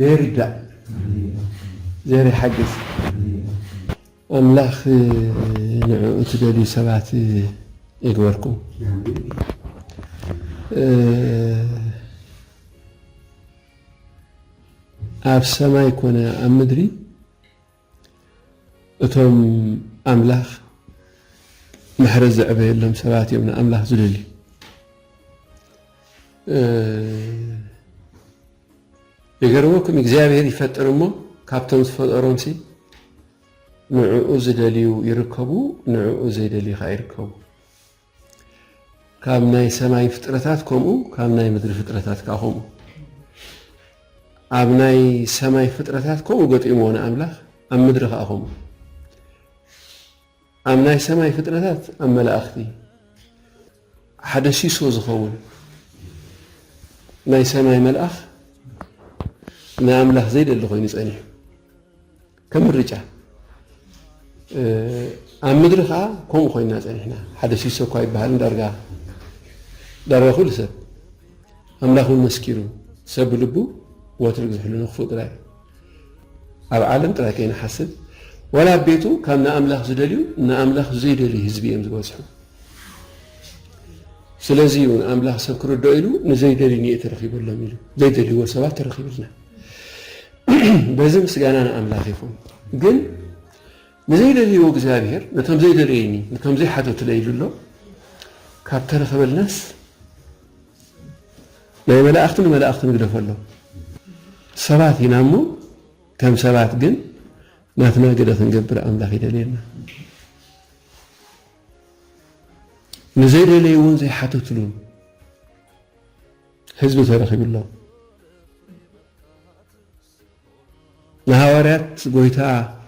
ዘይርዳእ ዘይርሓግዝ ኣምላኽ ንዕኡ ትደልዩ ሰባት ይግበርኩም። ኣብ ሰማይ ኮነ ኣብ ምድሪ እቶም ኣምላኽ ምሕረት ዘዕበየሎም ሰባት እዮም ንኣምላኽ ዝደልዩ። ይገርመኩም እግዚኣብሔር ይፈጥር እሞ ካብቶም ዝፈጠሮምሲ ንዕኡ ዝደልዩ ይርከቡ፣ ንዕኡ ዘይደልዩ ከዓ ይርከቡ። ካብ ናይ ሰማይ ፍጥረታት ከምኡ ካብ ናይ ምድሪ ፍጥረታት ከኣ ከምኡ ኣብ ናይ ሰማይ ፍጥረታት ከምኡ ገጢምዎ ንኣምላኽ ኣብ ምድሪ ከኣ ከምኡ ኣብ ናይ ሰማይ ፍጥረታት ኣብ መላእኽቲ ሓደ ሲሶ ዝኸውን ናይ ሰማይ መልኣኽ ንኣምላኽ ዘይደሊ ኮይኑ ጸኒሑ ከም ምርጫ ኣብ ምድሪ ከዓ ከምኡ ኮይና ፀኒሕና ሓደ ሲሶ እኳ ይበሃልን ዳርጋ ዳርጋ ኩሉ ሰብ ኣምላኽ እውን መስኪሩ ሰብ ብልቡ ወትሩ ዝሕሉ ንክፉእ ጥራይ ኣብ ዓለም ጥራይ ከይንሓስብ ወላ ኣብ ቤቱ ካብ ንኣምላኽ ዝደልዩ ንኣምላኽ ዘይደልዩ ህዝቢ እዮም ዝበዝሑ ስለዚ እዩ ኣምላኽ ሰብ ክርድኦ ኢሉ ንዘይደልዩ ንየ ተረኪበሎም ኢሉ ዘይደልይዎ ሰባት ተረኪብልና በዚ ምስጋና ንኣምላኽ ይኹን ግን ንዘይደልይዎ እግዚኣብሔር ነቶም ዘይደለየኒ ነቶም ዘይሓተቱለይ ኢሉ ኣሎ ካብ ተረኸበልናስ ናይ መላእኽቲ ንመላእኽቲ ንግደፎ ኣሎ ሰባት ኢና እሞ ከም ሰባት ግን ናትና ገደ ክንገብር ኣምላኽ ይደልየና ንዘይደለይዎን ዘይሓተትሉን ህዝቢ ተረኺብሎም ንሃዋርያት ጎይታ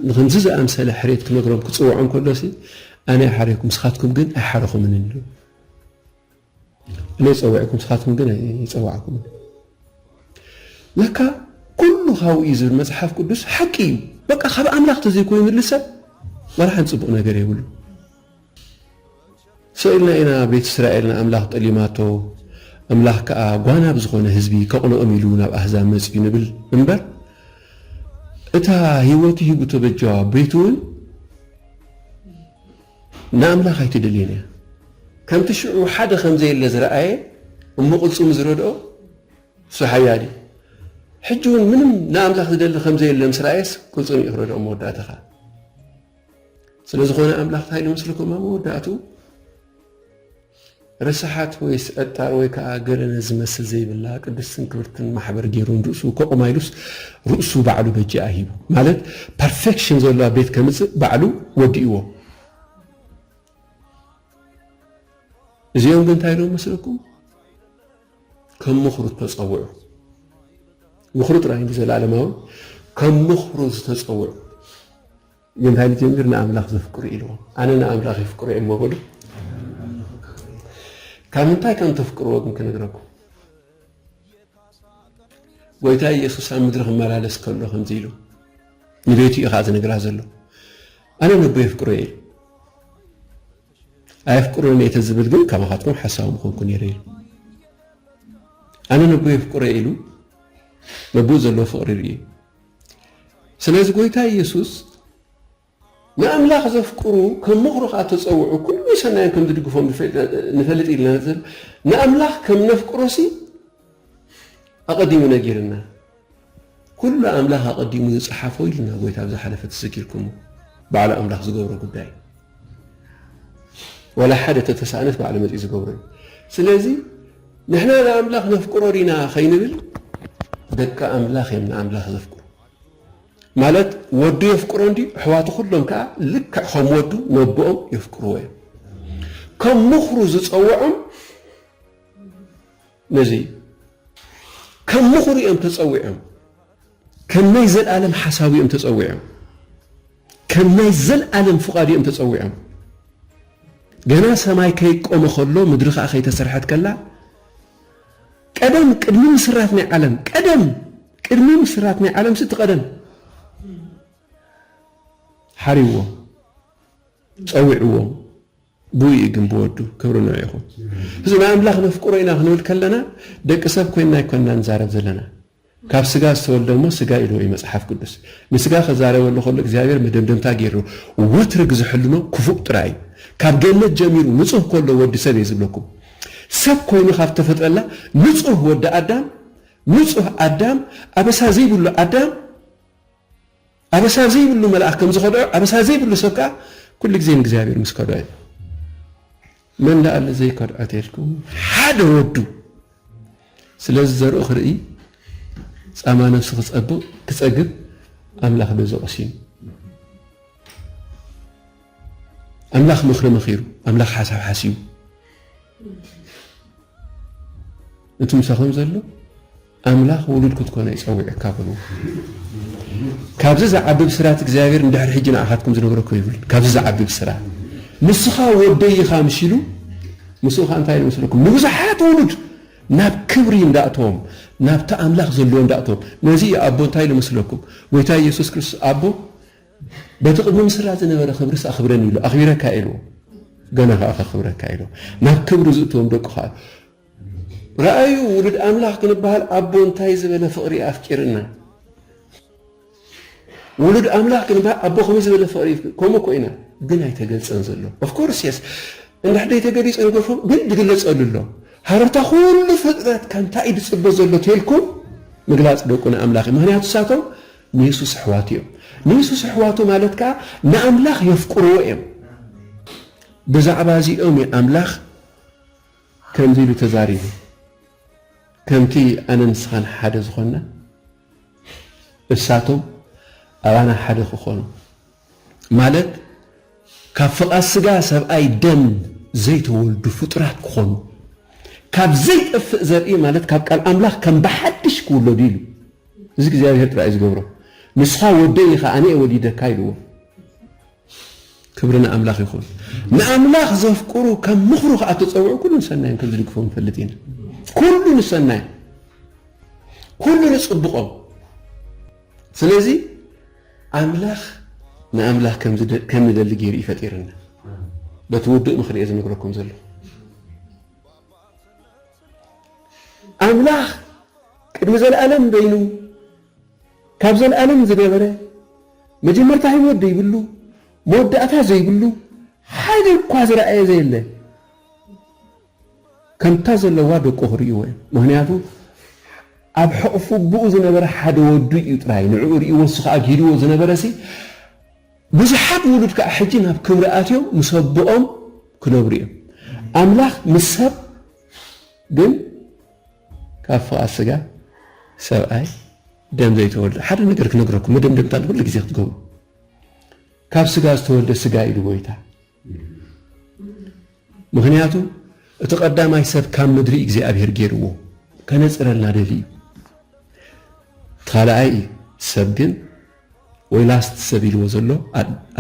ንክምዚ ዝኣምሰለ ሕሬት ክነግሮም ክጽውዖም ከሎሲ ኣነ ይሓረይኩም ስኻትኩም ግን ኣይሓረኹምን ኢሉ እነ ይጸውዕኩም ስኻትኩም ግን ኣይጸዋዕኩምን ለካ ኩሉ ካብኡ እዩ ዝብል መጽሓፍ ቅዱስ ሓቂ እዩ በቃ ካብ ኣምላኽ ተዘይኮይኑ ልሰብ ወላ ሓን ጽቡቕ ነገር የብሉ ሰኢልና ኢና ቤት እስራኤል ንኣምላኽ ጠሊማቶ ኣምላኽ ከኣ ጓና ብዝኾነ ህዝቢ ከቕንኦም ኢሉ ናብ ኣህዛብ መጺኡ ንብል እምበር እታ ህይወቱ ሂቡ ተበጃዋ ቤት እውን ንኣምላኽ ኣይትደልየን እያ። ከምቲ ሽዑ ሓደ ከም ዘየለ ዝረኣየ እሞ ቅልጽሙ ዝረድኦ እሱ ሓያል እዩ። ሕጂ እውን ምንም ንኣምላኽ ዝደሊ ከም ዘየለ ምስ ረኣየስ ቅልጽሙ እዩ ክረድኦ መወዳእታኻ ስለ ዝኾነ ኣምላኽ እንታይ ኢሉ መስለኩም ኣብ መወዳእትኡ ርስሓት ወይስ ዕጣር ወይ ከዓ ገለ ዝመስል ዘይብላ ቅድስትን ክብርትን ማሕበር ገይሩ ንርእሱ ከቑማ ኢሉስ ርእሱ ባዕሉ በጃኣ ሂቡ ማለት ፐርፌክሽን ዘለዋ ቤት ከምፅእ ባዕሉ ወዲእዎ እዚኦም ግን እንታይ ኢሎም መስለኩም ከም ምኽሩ ተፀውዑ ምኽሩ ጥራይ ዘላለማዊ ከም ምኽሩ ዝተፀውዑ ግን እንታይ ንጀምር ንኣምላኽ ዘፍቅሩ ኢልዎ ኣነ ንኣምላኽ የፍቅሮ እየ እሞ በሉ ካብ ምንታይ ከም ተፍቅርዎ ግን ክነግረኩም ጎይታ ኢየሱስ ኣብ ምድሪ ክመላለስ ከሎ ከምዚ ኢሉ ንቤቱ እዩ ከዓ ዝነግራ ዘሎ ኣነ ነቦ የፍቅሮ እየ ኢሉ ኣየፍቅሮን እየ ተዝብል ግን ከማኻትኩም ሓሳዊ ምኾንኩ ነይረ ኢሉ ኣነ ነቦ የፍቅሮ ኢሉ ነቦ ዘለዎ ፍቕሪ ርእዩ ስለዚ ጎይታ ኢየሱስ ንኣምላኽ ዘፍቅሩ ከም ምኽሩ ከኣ ተጸውዑ ኩሉ ሰናዮም ከም ዝድግፎም ንፈልጥ ኢልና ንዘል ንኣምላኽ ከም ነፍቅሮሲ ኣቐዲሙ ነጊርና ኩሉ ኣምላኽ ኣቐዲሙ ዝጸሓፎ ኢልና ጎይታ ኣብ ዝሓለፈ ትዝኪርኩሞ በዓል ኣምላኽ ዝገብሮ ጉዳይ ወላ ሓደ ተተሳእነስ ባዕሉ መፂኡ ዝገብሮ እዩ ስለዚ ንሕና ንኣምላኽ ነፍቅሮ ዲና ከይንብል ደቂ ኣምላኽ እዮም ንኣምላኽ ዘፍቅሩ ማለት ወዱ የፍቅሮ እንዲ ኣሕዋቱ ኩሎም ከዓ ልክዕ ከም ወዱ ነቦኦም የፍቅርዎ እዮም ከም ምኽሩ ዝፀውዖም ነዚ እዩ ከም ምኽሩ እዮም ተፀዊዖም ከም ናይ ዘልኣለም ሓሳቡ እዮም ተጸዊዖም፣ ከም ናይ ዘልኣለም ፍቓዱ እዮም ተጸዊዖም። ገና ሰማይ ከይቆመ ከሎ ምድሪ ከኣ ከይተሰርሐት ከላ ቀደም ቅድሚ ምስራት ናይ ዓለም ቀደም ቅድሚ ምስራት ናይ ዓለም ስቲ ቀደም ሓሪዎም ጸዊዕዎም ቡይ እዩ ግን ብወዱ ክብሪ ንዑ ይኹን። እዚ ናይ ኣምላኽ ነፍቅሮ ኢና ክንብል ከለና ደቂ ሰብ ኮይና ኣይኮንና ንዛረብ ዘለና ካብ ስጋ ዝተወልደ እሞ ስጋ ኢልዎ እዩ መጽሓፍ ቅዱስ ንስጋ ክዛረበሉ ከሎ እግዚኣብሔር መደምደምታ ጌርዎ ወትሪ ግዝሕልኖ ክፉእ ጥራይ እዩ ካብ ገነት ጀሚሩ ንጹህ ከሎ ወዲ ሰብ እየ ዝብለኩም ሰብ ኮይኑ ካብ ተፈጥረላ ንጹህ ወዲ ኣዳም ንጹህ ኣዳም ኣበሳ ዘይብሉ ኣዳም ኣበሳ ዘይብሉ መልኣኽ ከም ዝኸድዖ፣ ኣበሳ ዘይብሉ ሰብ ከኣ ኩሉ ግዜ ንእግዚኣብሔር ምስ ከድዖ እዩ። መን ደኣ ኣሎ ዘይከድዖ ተልኩም? ሓደ ወዱ። ስለዚ ዘርኡ ክርኢ ጻማ ነብሱ ክጸብቕ ክጸግብ ኣምላኽ በዚ ቆሲኑ። ኣምላኽ ምኽሪ መኺሩ፣ ኣምላኽ ሓሳብ ሓሲቡ እቲ ምሳኹም ዘሎ ኣምላኽ ውሉድ ክትኮኑ እዩ ጸዊዑካ በልዎ። ካብዚ ዝዓቢ ብስራት እግዚኣብሔር ንድሕሪ ሕጂ ንኣኻትኩም ዝነግሮ እኮ ይብል። ካብዚ ዝዓቢ ብስራት ንስኻ ወደይ ኢኻ ምስ ኢሉ ምስኡ ኸኣ እንታይ ኢሉ መስለኩም? ንብዙሓት ውሉድ ናብ ክብሪ እንዳእተዎም ናብቲ ኣምላኽ ዘለዎ እንዳእተዎም። ነዚ እዩ ኣቦ እንታይ ኢሉ መስለኩም? ጎይታ ኢየሱስ ክርስቶስ ኣቦ በቲ ቅድሚ ምስራት ዝነበረ ክብርስ ኣኽብረኒ ኢሉ ኣኽቢረካ ኢልዎ። ገና ኸኣ ከኽብረካ ኢልዎ። ናብ ክብሪ ዝእተዎም ደቁ ኸኣ ርኣዩ ውሉድ ኣምላኽ ክንበሃል ኣቦ እንታይ ዝበለ ፍቕሪ እዩ ኣፍቂርና ውሉድ ኣምላኽ ክንበሃል ኣቦ ከመይ ዝበለ ፍቕሪ ከምኡ እኮ ኢና ግን ኣይተገልጸን ዘሎ ኦፍኮርስ የስ እንድሕደ ተገሊጹ ንገርፎም ግን ዝግለጸሉ ኣሎ ሃረርታ ኩሉ ፍጥረት ካብ እንታይ እዩ ዝጽበ ዘሎ ተልኩም ምግላጽ ደቁ ንኣምላኽ እዩ ምክንያቱ ሳቶም ንየሱስ ኣሕዋቱ እዮም ንየሱስ ኣሕዋቱ ማለት ከዓ ንኣምላኽ የፍቅርዎ እዮም ብዛዕባ እዚኦም እዩ ኣምላኽ ከምዚ ኢሉ ተዛሪቡ፣ ከምቲ ኣነ ንስኻን ሓደ ዝኾንና፣ እሳቶም ኣባና ሓደ ክኾኑ፣ ማለት ካብ ፍቓድ ስጋ ሰብኣይ ደም ዘይተወልዱ ፍጡራት ክኾኑ፣ ካብ ዘይጠፍእ ዘርኢ ማለት ካብ ቃል ኣምላኽ ከም ብሓድሽ ክውለዱ ኢሉ። እዚ እግዚኣብሄር ጥራይ እዩ ዝገብሮ። ንስኻ ወደይ ኢኻ ኣነ'የ ወሊደካ ኢልዎ። ክብሪ ንኣምላኽ ይኹን። ንኣምላኽ ዘፍቅሩ ከም ምኽሩ ከኣ እተጸውዑ ኩሉ ንሰናዮም ከም ዝድግፎም ንፈልጥ ኢና። ኩሉ ንሰናዮም፣ ኩሉ ንጽቡቆም። ስለዚ ኣምላኽ ንኣምላኽ ከም ንደሊ ገይሩ እዩ ፈጢርና። በቲ ውዱእ ምኽሪ እየ ዝነግረኩም ዘለኹ። ኣምላኽ ቅድሚ ዘለኣለም በይኑ ካብ ዘልኣለም ዝነበረ፣ መጀመርታ ህይወት ዘይብሉ፣ መወዳእታ ዘይብሉ፣ ሓደ እኳ ዝረኣየ ዘየለ፣ ከምታ ዘለዋ ደቁ ክርእይዎ እዮም። ምኽንያቱ ኣብ ሕቕፊ ኣቦኡ ዝነበረ ሓደ ወዱ እዩ ጥራይ፣ ንዕኡ ርእይዎ እሱ ከኣ ጊህድዎ ዝነበረሲ፣ ብዙሓት ውሉድ ከኣ ሕጂ ናብ ክብሪ ኣትዮም ምስ ኣቦኦም ክነብሩ እዮም። ኣምላኽ ምስ ሰብ ግን፣ ካብ ፍቓድ ስጋ ሰብኣይ ደም ዘይተወልደ ሓደ ነገር ክነግረኩም መደምደምታ ንኹሉ ግዜ ክትገብሩ ካብ ስጋ ዝተወልደ ስጋ ኢሉ ጎይታ ምክንያቱ እቲ ቀዳማይ ሰብ ካብ ምድሪ እግዚኣብሔር ገይርዎ ከነፅረልና ደሊ እዩ ካልኣይ እዩ ሰብ ግን ወይ ላስት ሰብ ኢልዎ ዘሎ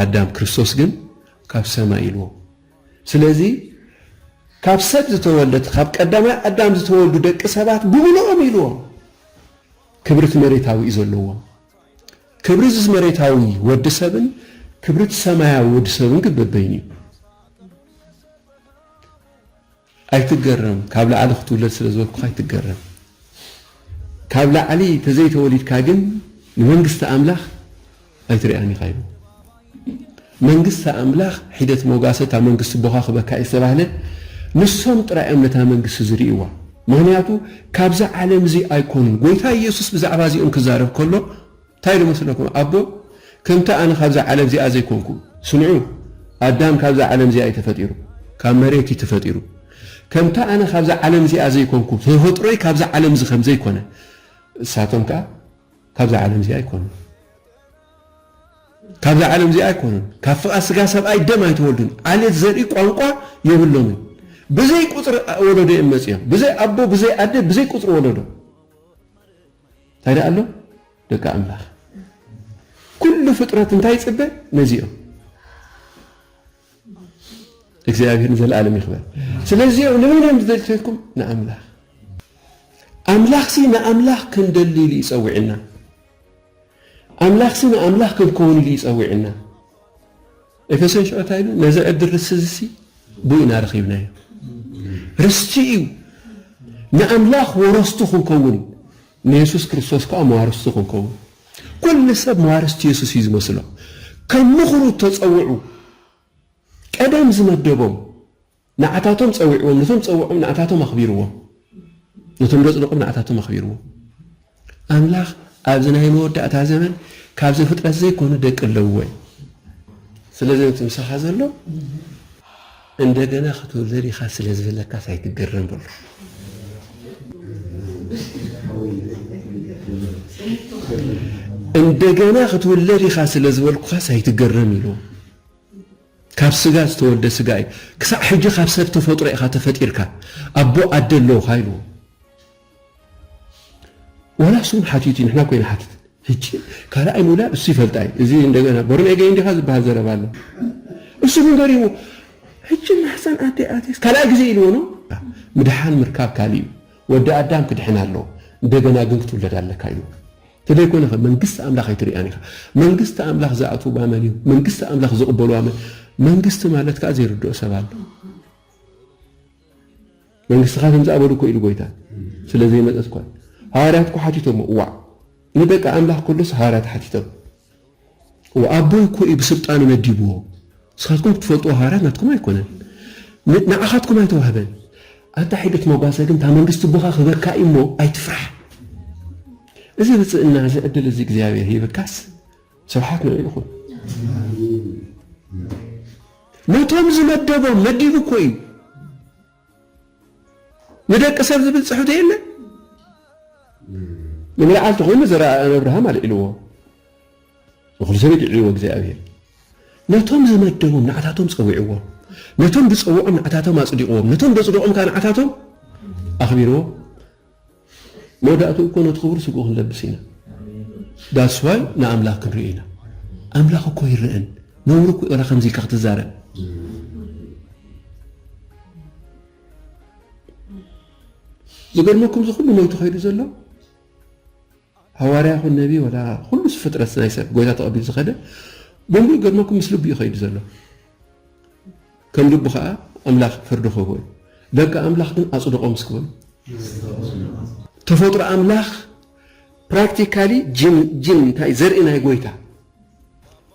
ኣዳም ክርስቶስ ግን ካብ ሰማይ ኢልዎ ስለዚ ካብ ሰብ ዝተወልደ እቲ ካብ ቀዳማይ ኣዳም ዝተወልዱ ደቂ ሰባት ብምልኦም ኢልዎም ክብሪ እቲ መሬታዊ እዩ ዘለዎም። ክብሪ እዚ መሬታዊ ወዲ ሰብን ክብሪ እቲ ሰማያዊ ወዲ ሰብን ግን በበይኑ እዩ። ኣይትገረም ካብ ላዕሊ ክትውለድ ስለ ዝበልኩኻ ኣይትገረም ካብ ላዕሊ ተዘይ ተወሊድካ ግን ንመንግስቲ ኣምላኽ ኣይትሪኣን ኢኻ ኢሉ መንግስቲ ኣምላኽ ሒደት ሞጋሰ እታ መንግስቲ ቦኻ ክበካ እዩ ዝተባህለ ንሶም ጥራይ እዮም ነታ መንግስቲ ዝርእይዋ ምኽንያቱ ካብዚ ዓለም እዚ ኣይኮኑን ጎይታ ኢየሱስ ብዛዕባ እዚኦም ክዛረብ ከሎ ታይ ዶ መስለኩም ኣቦ ከምቲ ኣነ ካብዛ ዓለም እዚኣ ዘይኮንኩ። ስምዑ ኣዳም ካብዛ ዓለም እዚኣ እዩ ተፈጢሩ ካብ መሬት እዩ ተፈጢሩ ከምቲ ኣነ ካብዛ ዓለም እዚኣ ዘይኮንኩ ተፈጥሮይ ካብዛ ዓለም እዚ ከምዘይ ኮነ እሳቶም ከኣ ካብዛ ዓለም እዚኣ ኣይኮኑን ካብዛ ዓለም እዚኣ ኣይኮኑን ካብ ፍቓ ስጋ ሰብኣይ ደም ኣይተወልዱን ዓሌት ዘርኢ ቋንቋ የብሎምን ብዘይ ቁጽሪ ወለዶ እዮም መጽኦም ብዘይ ኣቦ ብዘይ ኣደ ብዘይ ቁጽሪ ወለዶ እንታይ ደኣ ኣሎ ደቂ ኣምላኽ ኩሉ ፍጥረት እንታይ ይጽበ ነዚ እዮም እግዚኣብሔር ንዘለኣለም ይኽበር ስለዚኦም ንመን እዮም ዝደልተልኩም ንኣምላኽ ኣምላኽሲ ንኣምላኽ ክንደሊ ኢሉ ይጸዊዕና ኣምላኽሲ ንኣምላኽ ክንከውን ኢሉ ይጸዊዕና ኤፌሶን ሽዑ እንታይ ኢሉ? ነዚ ዕድል ርስቲ እዚሲ ብኡ ኢና ረኺብናዮ። ርስቲ እዩ፣ ንኣምላኽ ወረስቱ ክንከውን፣ ንየሱስ ክርስቶስ ከኣ መዋርስቱ ክንከውን። ኩሉ ሰብ መዋርስቲ የሱስ እዩ ዝመስሎ። ከም ምኽሩ እተጸውዑ፣ ቀደም ዝመደቦም ንዓታቶም ጸዊዕዎም ነቶም ጸውዖም ንኣታቶም ኣኽቢርዎም ነቶም ዘጽደቆም ንኣታቶም ኣኽቢርዎም ኣምላኽ ኣብዚ ናይ መወዳእታ ዘመን ካብ ዘፍጥረት ዘይኮኑ ደቂ ኣለውዎ እዩ ስለዚ ነቲ ምሳኻ ዘሎ እንደገና ክትውለድ ኢኻ ስለ ዝበለካስ ኣይትገረም በሎ እንደገና ክትውለድ ኢኻ ስለ ዝበልኩኻስ ኣይትገረም ኢሉ ካብ ስጋ ዝተወልደ ስጋ እዩ ክሳዕ ሕጂ ካብ ሰብ ተፈጥሮ ኢኻ ተፈጢርካ ኣቦ ኣደ ኣለውኻ ኢልዎ ወላ እሱ ውን ሓቲቱ ንሕና ኮይና ሓትት ሕጂ ካልኣይ ምውላድ እሱ ይፈልጣ እዩ እዚ እንደገና ቦርኔገ እንዲኻ ዝበሃል ዘረባ ኣሎ እሱ ግን ገሪሙ ሕጂ ማሕፀን ኣደ ኣትየስ ካልኣይ ግዜ ኢልዎ ኖ ምድሓን ምርካብ ካልእ እዩ ወዲ ኣዳም ክድሕን ኣለዎ እንደገና ግን ክትውለድ ኣለካ ኢልዎ ተደይኮነኸ መንግስቲ ኣምላኽ ኣይትርእያን ኢኻ። መንግስቲ ኣምላኽ ዝኣትውዋ መን እዩ? መንግስቲ ኣምላኽ ዝቕበልዋ መን? መንግስቲ ማለት ከኣ ዘይርድኦ ሰብ ኣሎ። መንግስትኻ ከም ዝኣበሉ እኮ ኢሉ ጎይታ ስለ ዘይመጸት እኳ ሃዋርያት እኮ ሓቲቶሞ ዋዕ ንደቂ ኣምላኽ ከሎስ ሃዋርያት ሓቲቶም ኣቦይ እኮ እዩ ብስልጣኑ መዲብዎ ንስካትኩም ክትፈልጥዎ ሃዋርያት ናትኩም ኣይኮነን ንዓካትኩም ኣይተዋህበን ኣንታ ሒደት መጓሰ ግን እታ መንግስቲ ኣቦካ ክህበካ እዩ እሞ ኣይትፍራሕ እዚ ብፅእና እዚ ዕድል እዚ እግዚኣብሔር ሂብካስ ስብሓት ንዑ ይኹን ነቶም ዝመደቦም መዲቡ እኮ እዩ ንደቂ ሰብ ዝብል ጽሕፍቲ የለ ንምልዓል ተኾይኑ ዘረኣእያን ኣብርሃም ኣልዒልዎ ንኹሉ ሰብ ይድዕልዎ እግዚኣብሔር ነቶም ዝመደቦም ንዓታቶም ጸዊዕዎም ነቶም ዝጸውዖም ንዓታቶም ኣጽዲቕዎም ነቶም ዘጽድቖም ከዓ ንዓታቶም ኣኽቢርዎም መወዳእትኡ እኮ ነቲ ክቡር ስግኡ ክንለብስ ኢና that's why ንኣምላኽ ክንርእዮ ኢና ኣምላኽ እኮ ይረኣን ነውሪ እኮ እዩ ዋላ ከምዚ ኢልካ ክትዛረብ ዝገርመኩም እዚ ኩሉ ሞይቱ ከይዱ ዘሎ ሃዋርያ ይኹን ነቢ ወላ ኩሉ ፍጥረት ናይ ሰብ ጎይታ ተቐቢሉ ዝኸደ ብምሉእ ገርመኩም ምስ ልቡ እዩ ከይዱ ዘሎ ከም ልቡ ኸኣ ኣምላኽ ፍርዲ ኽህቦ እዩ። ደቂ ኣምላኽ ግን ኣጽድቖ ምስ ክበሉ። ተፈጥሮ ኣምላኽ ፕራክቲካሊ ጅን ጅን እንታይ ዘርኢ ናይ ጎይታ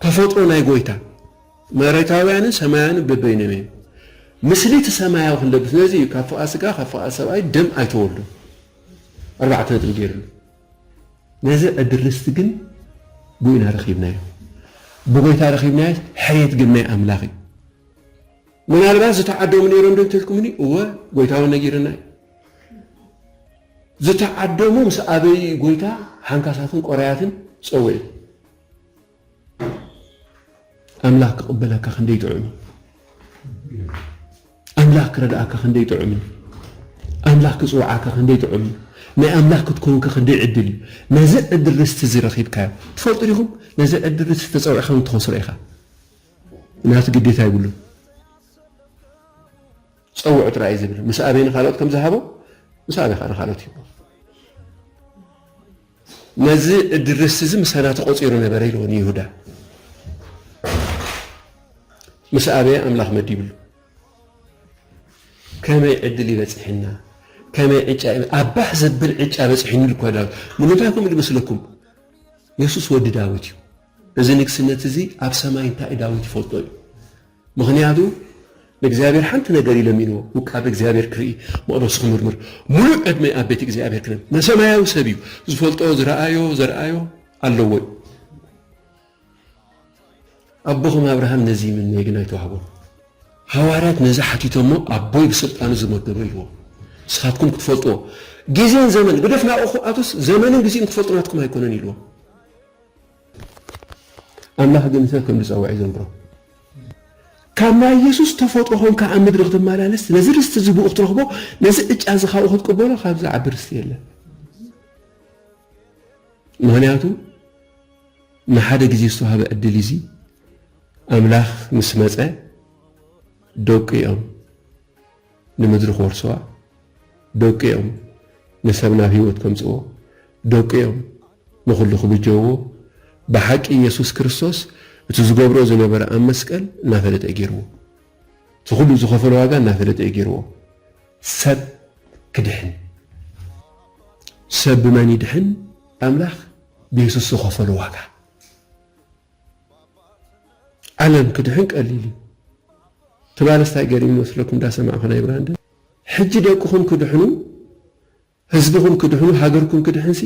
ተፈጥሮ ናይ ጎይታ መሬታውያንን ሰማያውያንን በበይኖም እዮም። ምስሊ እቲ ሰማያዊ ክንለብስ ነዚ እዩ ካብ ፍቓድ ስጋ ካብ ፍቓድ ሰብኣይ ደም ኣይተወልዱን ኣርባዕተ ነጥቢ ገይርሉ። ነዚ ዕድል ርስቲ ግን ብኡይና ረኺብናዮ፣ ብጐይታ ረኺብናዮስ፣ ሕርየት ግን ናይ ኣምላኽ እዩ። ምናልባት ዝተዓደሙ ነይሮም ዶ እንተልኩምኒ፣ እወ ጐይታ እውን ነጊርና እዩ። ዝተዓደሙ ምስ ኣበዩ እዩ ጐይታ ሓንካሳትን ቆራያትን ጸዊዑ። ኣምላኽ ክቕበለካ ክንደይ ጥዑም እዩ ኣምላኽ ክረድኣካ ክንደይ ጥዑም እዩ ኣምላኽ ክጽውዓካ ክንደይ ጥዑም እዩ ናይ ኣምላኽ ክትከውንከ ክንደይ ዕድል እዩ ነዚ ዕድል ርስቲ እዚ ረኺብካዮ ትፈልጡ ዲኹም ነዚ ዕድል ርስቲ ተጸዊዕካ እውን ትኸስሮ ኢኻ ናቱ ግዴታ ይብሉን ጸውዑ ጥራይ እዩ ዝብል ምስ ኣበይ ንካልኦት ከም ዝሃቦ ምስ ኣበይ ከዓ ንካልኦት ይህቦ ነዚ እድርስ እዚ ምሳና ተቖጺሩ ነበረ ኢልዎ ንይሁዳ ምስ ኣበየ ኣምላኽ መዲብሉ ከመይ ዕድል ይበጽሕና ከመይ ዕጫ ኣባህ ዘብል ዕጫ በጽሒኑ ኢሉ እኳ ዳዊት ንምንታይ ከምኡ ዝመስለኩም የሱስ ወዲ ዳዊት እዩ እዚ ንግስነት እዚ ኣብ ሰማይ እንታይ ዳዊት ይፈልጦ እዩ ምኽንያቱ ንእግዚኣብሔር ሓንቲ ነገር እዩ ለሚንዎ፣ ውቃበ እግዚኣብሔር ክርኢ፣ መቕደሱ ክምርምር፣ ምሉእ ዕድመ ኣብ ቤት እግዚኣብሔር ክነብ። ንሰማያዊ ሰብ እዩ፣ ዝፈልጦ ዝረኣዮ ዘርኣዮ ኣለዎ እዩ። ኣቦኹም ኣብርሃም ነዚ ይምነይ ግን ኣይተዋህቦም። ሃዋርያት ነዚ ሓቲቶሞ ኣቦይ ብስልጣኑ ዝመደበ ኢልዎ። ንስኻትኩም ክትፈልጥዎ ጊዜን ዘመን ግደፍ ናብኹ ኣቱስ ዘመንን ጊዜን ክትፈልጡ ናትኩም ኣይኮነን ኢልዎ። ኣምላኽ ግን ሰብ ከም ዝጸውዕ ይዘንግሮ። ካብ ናይ የሱስ ተፈጥሮ ኾንካ ኣብ ምድሪ ክትመላለስ፣ ነዚ ርስቲ እዚ ብኡ ክትረኽቦ፣ ነዚ ዕጫ እዚ ካብኡ ክትቅበሎ ካብዚ ዝዓቢ ርስቲ የለን። ምኽንያቱ ንሓደ ግዜ ዝተዋህበ ዕድል እዚ ኣምላኽ ምስ መጸ ደቁ እዮም ንምድሪ ክወርስዋ ደቁ እዮም፣ ንሰብ ናብ ህይወት ከምጽእዎ ደቁ እዮም፣ ንኹሉ ክብጀውዎ ብሓቂ ኢየሱስ ክርስቶስ እቲ ዝገብሮ ዝነበረ ኣብ መስቀል እናፈለጠ እዩ ገይርዎ። እቲ ኩሉ ዝኸፈሎ ዋጋ እናፈለጠ እዩ ገይርዎ። ሰብ ክድሕን ሰብ ብመን ይድሕን? ኣምላኽ ብየሱስ ዝኸፈሎ ዋጋ። ዓለም ክድሕን ቀሊል እዩ ትማልስ ታይ ገሪም ይመስለኩም ዳሰማዕኩ ናይ ብራንደ ሕጂ ደቅኹም ክድሕኑ ህዝብኹም ክድሕኑ ሃገርኩም ክድሕንሲ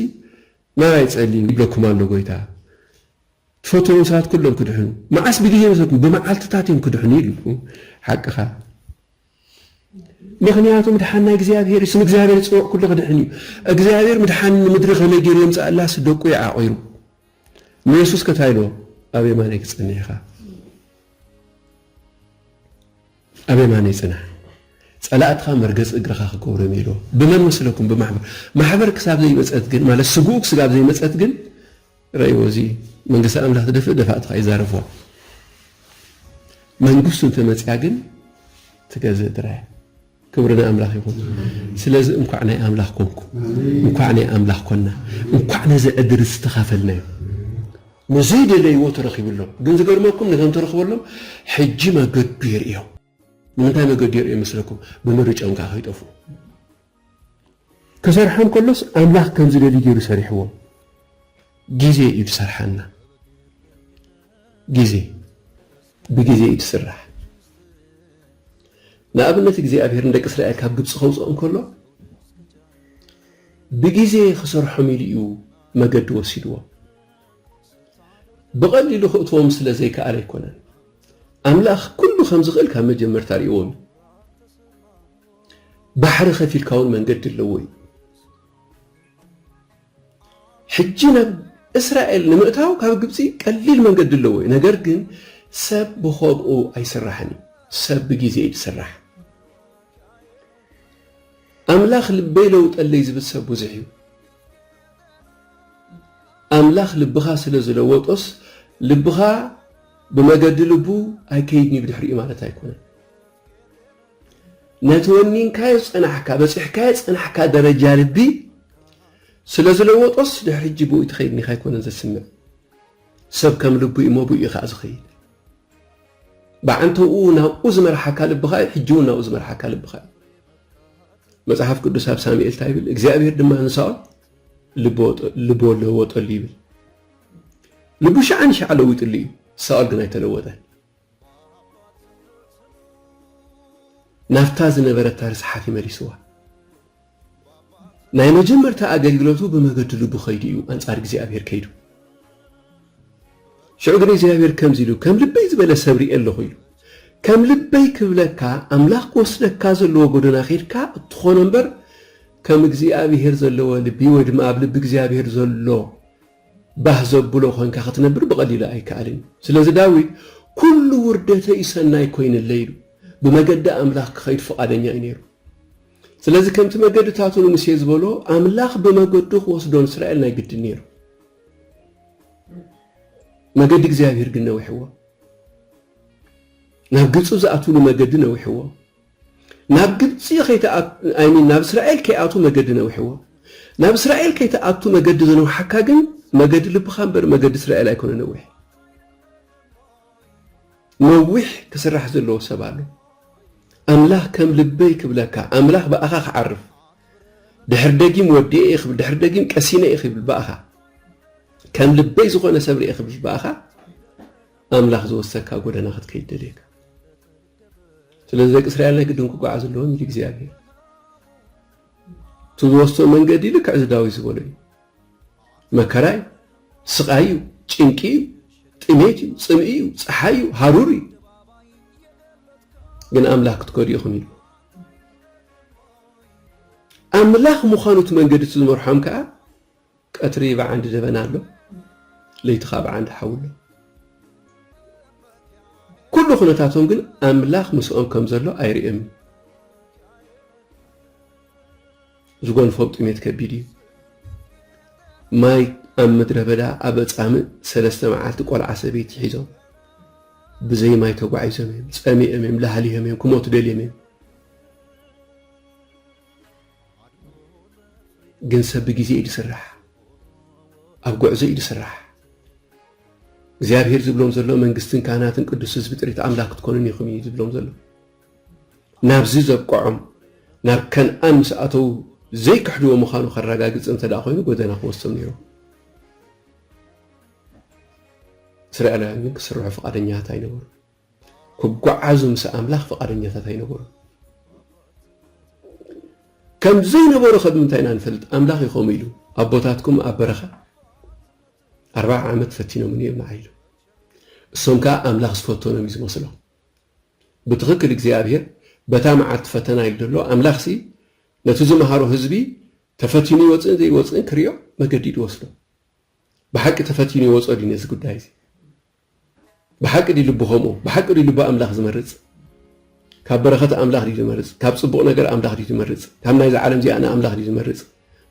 ማራይ ጸልዩ ይብለኩም ኣሎ ጎይታ ትፈትዎም ሰባት ኩሎም ክድሕኑ መዓስ ብግዜ ይመስለኩም ብመዓልትታት እዮም ክድሕኑ ይብልኩም ሓቅኻ ምኽንያቱ ምድሓን ናይ እግዚኣብሔር እዩ ስም እግዚኣብሔር ዝፅውዕ ኩሉ ክድሕን እዩ እግዚኣብሔር ምድሓን ንምድሪ ከመይ ገይሩ የምፅኣላስ ደቁ እዩ ዓቑሩ ንየሱስ ከታይ ኢልዎ ኣብ የማነይ ክፀንሕ ኢኻ ኣብ የማነይ ፅናሕ ፀላእትኻ መርገፂ እግርኻ ክገብሮም ኢልዎ ብመን መስለኩም ብማሕበር ማሕበር ክሳብ ዘይመፀት ግን ማለት ስግኡ ክስጋብ ዘይመፀት ግን ረእይዎ እዚ መንግስቲ ኣምላኽ ዝደፍእ ደፋእትኻ እዩ ዛረፍዋ መንግስቱ እንተመጽያ ግን ትገዝእ ድራያ ክብሪ ንኣምላኽ ይኹን ስለዚ እንኳዕ ናይ ኣምላኽ ኮንኩ እንኳዕ ናይ ኣምላኽ ኮና እንኳዕ ነዚ ዕድል ዝተኻፈልናዮ ንዘይደለይዎ ተረኺብሎም ግን ዝገርመኩም ነቶም ተረኽበሎም ሕጂ መገዱ የርእዮም ንምንታይ መገዲ ይርእዩ ይመስለኩም? ብምርጭኦም ከኣ ከይጠፍኡ። ክሰርሖም ከሎስ ኣምላኽ ከም ዝደልዩ ገይሩ ሰሪሕዎም። ግዜ እዩ ዝሰርሓና። ግዜ ብግዜ እዩ ዝስራሕ። ንኣብነት እግዚኣብሔር ንደቂ እስራኤል ካብ ግብፂ ከውፅኦም ከሎ ብግዜ ክሰርሖም ኢሉ እዩ መገዲ ወሲድዎም። ብቐሊሉ ክእትዎም ስለ ዘይክኣል ኣይኮነን። ኣምላኽ ኩሉ ከም ዝኽእል ካብ መጀመርታ ርእዎም እዩ። ባሕሪ ከፊልካ እውን መንገዲ ኣለዎ እዩ። ሕጂ ናብ እስራኤል ንምእታው ካብ ግብፂ ቀሊል መንገዲ ኣለዎ እዩ። ነገር ግን ሰብ ብኸብኡ ኣይስራሕን እዩ። ሰብ ብግዜ እዩ ዝስራሕ። ኣምላኽ ልበይ ለውጠለይ ዝብል ሰብ ብዙሕ እዩ። ኣምላኽ ልብኻ ስለ ዝለወጦስ ልብኻ ብመገዲ ልቡ ኣይከይድን እዩ ብድሕሪኡ ማለት ኣይኮነን። ነቲ ወኒንካዮ ዝጸናሕካ በጺሕካዮ ዝጸናሕካ ደረጃ ልቢ ስለ ዝለወጦስ ድሕሪ ሕጂ ብኡ ትኸይድ ኒኻ ኣይኮነን ዘስምዕ ሰብ ከም ልቡ እዩ እሞ ብኡ እዩ ከኣ ዝኸይድ ብዓንተብኡ ናብኡ ዝመርሓካ ልብኻ እዩ ሕጂ እውን ናብኡ ዝመርሓካ ልብኻ እዩ መጽሓፍ ቅዱስ ኣብ ሳሙኤል እንታይ ይብል እግዚኣብሔር ድማ ንሳኦል ልቦ ለወጠሉ ይብል ልቡ ሸዓ ንሸዓ ለዊጥሉ እዩ ሳኦል ግን ኣይተለወጠን ናብታ ዝነበረታ ርስሓት ይመሊስዋ ናይ መጀመርታ ኣገልግሎቱ ብመገዲ ልቡ ከይዱ እዩ ኣንጻር እግዚኣብሔር ከይዱ ሽዑ ግን እግዚኣብሔር ከምዚ ኢሉ ከም ልበይ ዝበለ ሰብ ርኤ ኣለኹ ኢሉ ከም ልበይ ክብለካ ኣምላኽ ክወስደካ ዘለዎ ጎደና ኺድካ እትኾኖ እምበር ከም እግዚኣብሔር ዘለዎ ልቢ ወይ ድማ ኣብ ልቢ እግዚኣብሔር ዘሎ ባህ ዘብሎ ኮንካ ክትነብር ብቐሊሉ ኣይከኣልን እዩ ስለዚ ዳዊት ኩሉ ውርደተይ ሰናይ ኮይንለይ ኢሉ ብመገዲ ኣምላኽ ክኸይድ ፍቓደኛ እዩ ነይሩ ስለዚ ከምቲ መገድታቱ ንምሴ ዝበሎ ኣምላኽ ብመገዱ ክወስዶ ንስራኤል ናይ ግድን ነይሩ። መገዲ እግዚኣብሔር ግን ነዊሕዎ። ናብ ግብፂ ዝኣትውሉ መገዲ ነዊሕዎ። ናብ ግብፂ ኣይሚን ናብ እስራኤል ከይኣቱ መገዲ ነዊሕዎ። ናብ እስራኤል ከይተኣቱ መገዲ ዘነውሓካ ግን መገዲ ልብኻ እምበር መገዲ እስራኤል ኣይኮነ ነዊሕ ነዊሕ ክስራሕ ዘለዎ ሰብ ኣሎ ኣምላኽ ከም ልበይ ክብለካ ኣምላኽ ብኣኻ ክዓርፍ ድሕር ደጊም ወዲኤ እየ ክብል ድሕር ደጊም ቀሲነ እየ ክብል ብኣኻ ከም ልበይ ዝኾነ ሰብ ርኤ ክብል ብኣኻ ኣምላኽ ዝወሰካ ጎደና ክትከይድ ደልየካ ስለዚ ደቂ እስራኤል ናይ ግድን ክጓዓዝ ኣለዎም ኢሉ እግዚኣብሄር እቲ ዝወስቶ መንገዲ ልክዕ ዝዳዊት ዝበሎ እዩ መከራ እዩ፣ ስቓይ እዩ፣ ጭንቂ እዩ፣ ጥሜት እዩ፣ ጽምኢ እዩ፣ ፀሓይ እዩ፣ ሃሩር እዩ። ግን ኣምላኽ ክትከዱ ኢኹም ኢሉ ኣምላኽ ምዃኑ እቲ መንገዲ እቲ ዝመርሖም ከዓ ቀትሪ ብዓንዲ ደበና ኣሎ፣ ለይቲ ከዓ ብዓንዲ ሓዊ ኣሎ። ኩሉ ኩነታቶም ግን ኣምላኽ ምስኦም ከም ዘሎ ኣይርእዮምን። ዝጎንፎም ጥሜት ከቢድ እዩ። ማይ ኣብ ምድረ በዳ ኣብ ኣጻምእ ሰለስተ መዓልቲ ቆልዓ ሰበይቲ ሒዞም ብዘይ ማይ ተጓዒዞም እዮም ጸሚኦም እዮም ላሃሊሆም እዮም ክሞቱ ደልዮም እዮም ግን ሰብ ብግዜ እዩ ዝስራሕ ኣብ ጉዕዞ እዩ ዝስራሕ እግዚኣብሔር ዝብሎም ዘሎ መንግስትን ካህናትን ቅዱስ ህዝቢ ጥሪት ኣምላክ ክትኮኑን ኢኹም እዩ ዝብሎም ዘሎ ናብዚ ዘብቀዖም ናብ ከንኣን ምስ ኣተዉ ዘይክሕድዎ ምኻኑ ከራጋግጽ እንተ ደኣ ኮይኑ ጎደና ክወስዶም ነይሩ። እስራኤላውያን ግን ክስርሑ ፍቓደኛታት ኣይነበሩ። ክጓዓዙ ምስ ኣምላኽ ፍቓደኛታት ኣይነበሩ። ከም ዘይነበሩ ከብ ምንታይ ኢና ንፈልጥ? ኣምላኽ እዩ ከምኡ ኢሉ ኣቦታትኩም ኣብ በረኻ ኣርባዓ ዓመት ፈቲኖምኒ እዮም ንዓ ኢሉ። እሶም ከዓ ኣምላኽ ዝፈተኖም እዩ ዝመስሎም። ብትኽክል እግዚኣብሄር በታ መዓልቲ ፈተና ኢሉ ዘሎ ኣምላኽሲ ነቲ ዝመሃሮ ህዝቢ ተፈቲኑ ይወፅእን ዘይወፅእን ክሪኦ መገዲዱ ወስዶ። ብሓቂ ተፈቲኑ ይወፆ ድዩ ነዚ ጉዳይ እዚ? ብሓቂ ድዩ ልቡ ከምኡ? ብሓቂ ድዩ ልቡ ኣምላኽ ዝመርፅ? ካብ በረኸት ኣምላኽ ድዩ ዝመርፅ? ካብ ፅቡቕ ነገር ኣምላኽ ድዩ ዝመርፅ? ካብ ናይዚ ዓለም እዚኣ ንኣምላኽ ድዩ ዝመርፅ?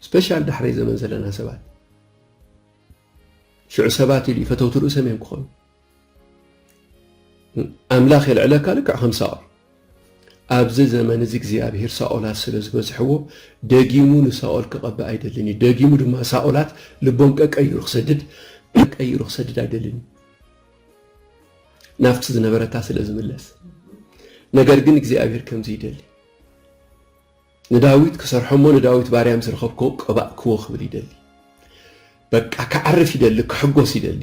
ስፔሻል ዳሕረይ ዘመን ዘለና ሰባት ሽዑ ሰባት ኢሉ ፈተውቲ ርእሶም እዮም ክኾኑ ኣምላኽ የልዕለካ ልክዕ ከም ሳኦል ኣብዚ ዘመን እዚ እግዚኣብሄር ሳኦላት ስለ ዝበዝሕዎ ደጊሙ ንሳኦል ክቐብእ ኣይደልን እዩ ደጊሙ ድማ ሳኦላት ልቦም ቀቀይሩ ክሰድድ ቀይሩ ክሰድድ ኣይደልን እዩ ናብቲ ዝነበረታ ስለ ዝምለስ ነገር ግን እግዚኣብሄር ከምዚ ይደሊ ንዳዊት ክሰርሖሞ ንዳዊት ባርያ ምስ ረኸብክዎ ቀባእክዎ ክብል ይደሊ በቃ ክዓርፍ ይደሊ ክሕጎስ ይደሊ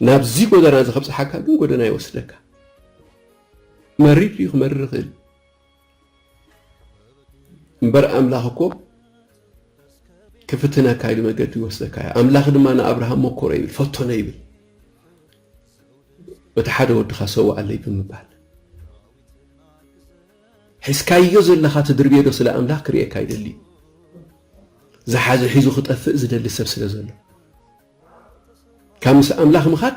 ናብዚ ጎደና እዚ ከብጽሓካ ግን ጎደና ይወስደካ መሪር ድዩ ክመርር ይኽእል እምበር ኣምላኽ እኮ ክፍትነካ ኢሉ መገዲ ይወስደካ እዩ ኣምላኽ ድማ ንኣብርሃም መኮሮ ይብል ፈቶነ ይብል በቲ ሓደ ወድኻ ሰዋኣለይ ብምባል ሒዝካዮ ዘለኻ ትድርብዮ ዶ ስለ ኣምላኽ ክርእየካ ይደሊ እዩ ዝሓዘ ሒዙ ክጠፍእ ዝደሊ ሰብ ስለ ዘሎ ካብ ምስ ኣምላኽ ምኻድ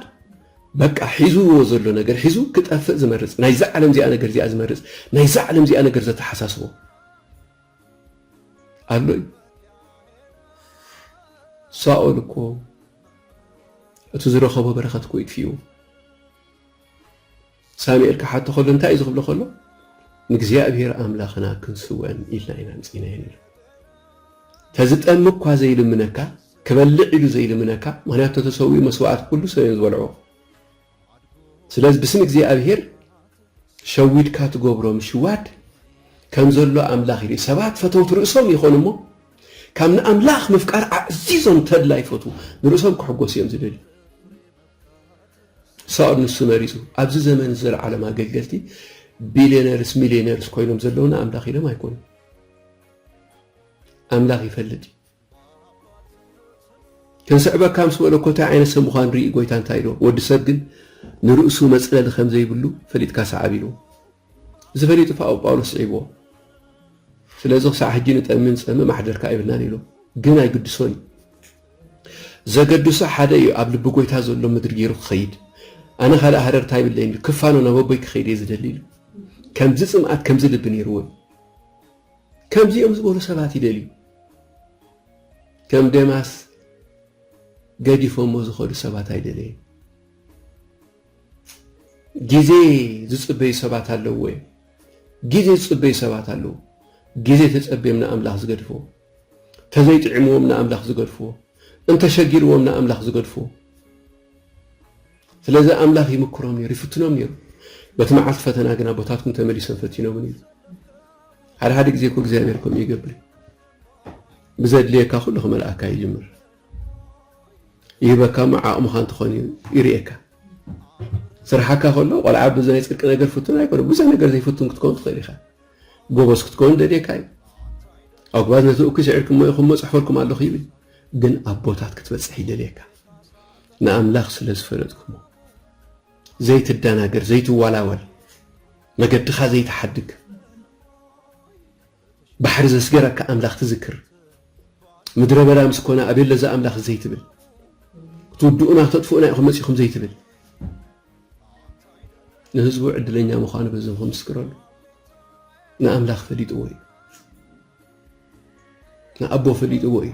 በቃ ሒዝዎ ዘሎ ነገር ሒዙ ክጠፍእ ዝመርጽ ናይዛ ዓለም እዚኣ ነገር እዚኣ ዝመርጽ ናይዛ ዓለም እዚኣ ነገር ዘተሓሳስቦ ኣሎ እዩ ሳኦል እኮ እቲ ዝረኸቦ በረኸት እኮ ይጥፍኡ ሳሚኤል ክሓቶ ከሎ እንታይ እዩ ዝክብሎ ከሎ ንእግዚኣብሔር ኣምላክና ክንስወን ኢልና ኢና ምጺናዮ ነይሩ ተዝጠም እኳ ዘይልምነካ ክበልዕ ኢሉ ዘይልምነካ ምክንያቱ ተሰዊኡ መስዋዕት ኩሉ ሰብ እዮም ዝበልዑ ስለዚ ብስም እግዚኣብሔር ሸዊድካ ትገብሮ ምሽዋድ ከም ዘሎ ኣምላኽ ይርኢ ሰባት ፈተውቲ ርእሶም ይኾኑ እሞ ካብ ንኣምላኽ ምፍቃር ኣዕዚዞም ተድላ ይፈትዉ ንርእሶም ክሕጎሱ እዮም ዝደልዩ ሳኦል ንሱ መሪጹ። ኣብዚ ዘመን ዘለዓለም ኣገልገልቲ ቢልዮነርስ ሚልዮነርስ ኮይኖም ዘለውና ኣምላኽ ኢሎም ኣይኮኑን። ኣምላኽ ይፈልጥ እዩ። ክንስዕበካ ምስ መለኮታይ ዓይነት ሰብ ምዃን ርኢ ጎይታ እንታይ ኢልዎ ወዲ ሰብ ግን ንርእሱ መጽለሊ ከም ዘይብሉ ፈሊጥካ ሰዓብ ኢልዎ እዚ ፈሊጡ ፋኦ ጳውሎስ ስዒብዎ ስለዚ ክሳዕ ሕጂ ንጠሚ ንጸምእ ማሕደርካ ኣይብልናን ኢሉ ግን ኣይግድሶን እዩ ዘገድሶ ሓደ እዩ ኣብ ልቢ ጎይታ ዘሎ ምድሪ ጌሩ ክኸይድ ኣነ ካልእ ሃረርታ የብለይን ኢሉ ክፋኖ ናብ ኣቦይ ክኸይድ እየ ዝደሊ ኢሉ ከምዚ ጽምኣት ከምዚ ልቢ ኔርዎ እዩ ከምዚኦም ዝበሉ ሰባት ይደልዩ ከም ደማስ ገዲፎሞ ዝኸዱ ሰባት ኣይደለየን ግዜ ዝጽበዩ ሰባት ኣለዎ እዮም ግዜ ዝጽበዩ ሰባት ኣለዎ ግዜ ተጸብዮም ንኣምላኽ ዝገድፍዎ ተዘይጥዒምዎም ንኣምላኽ ዝገድፍዎ እንተሸጊርዎም ንኣምላኽ ዝገድፍዎ ስለዚ ኣምላኽ ይምክሮም ነይሩ ይፍትኖም ነይሩ በቲ መዓልቲ ፈተና ግን ኣቦታትኩም ተመሊሶም ፈቲኖምን እዩ ሓደ ሓደ ግዜ እኮ እግዚኣብሔር ከምኡ ይገብር ብዘድልየካ ኩሉ ክመልኣካ ይጅምር ይህበካ እሞ ዓቕምኻ እንትኾን እዩ ይርእየካ ስራሓካ ከሎ ቆልዓ ብናይ ፅድቂ ነገር ፍቱን ኣይኮነ ብዙሕ ነገር ዘይፍቱን ክትከውን ትኽእል ኢኻ ጎበዝ ክትከውን ደልየካ እዩ። ኣጉባዝ ነቲ እኩይ ስዒርኩም እሞ ኢኹም እሞ ጽሕፈልኩም ኣለኹ ይብል። ግን ኣቦታት ክትበጽሕ ይደልየካ። ንኣምላኽ ስለ ዝፈለጥኩሞ ዘይትደናገር ዘይትዋላወል መገድኻ ዘይትሓድግ ባሕሪ ዘስገረካ ኣምላኽ ትዝክር ምድረ በዳ ምስ ኮነ ኣቤለዛ ኣምላኽ ዘይትብል ክትውድኡና ተጥፍኡና ኢኹም መጺኹም ዘይትብል ንህዝቡ ዕድለኛ ምዃኑ በዚ ክምስክረሉ ንኣምላኽ ፈሊጥዎ እዩ ንኣቦ ፈሊጥዎ እዩ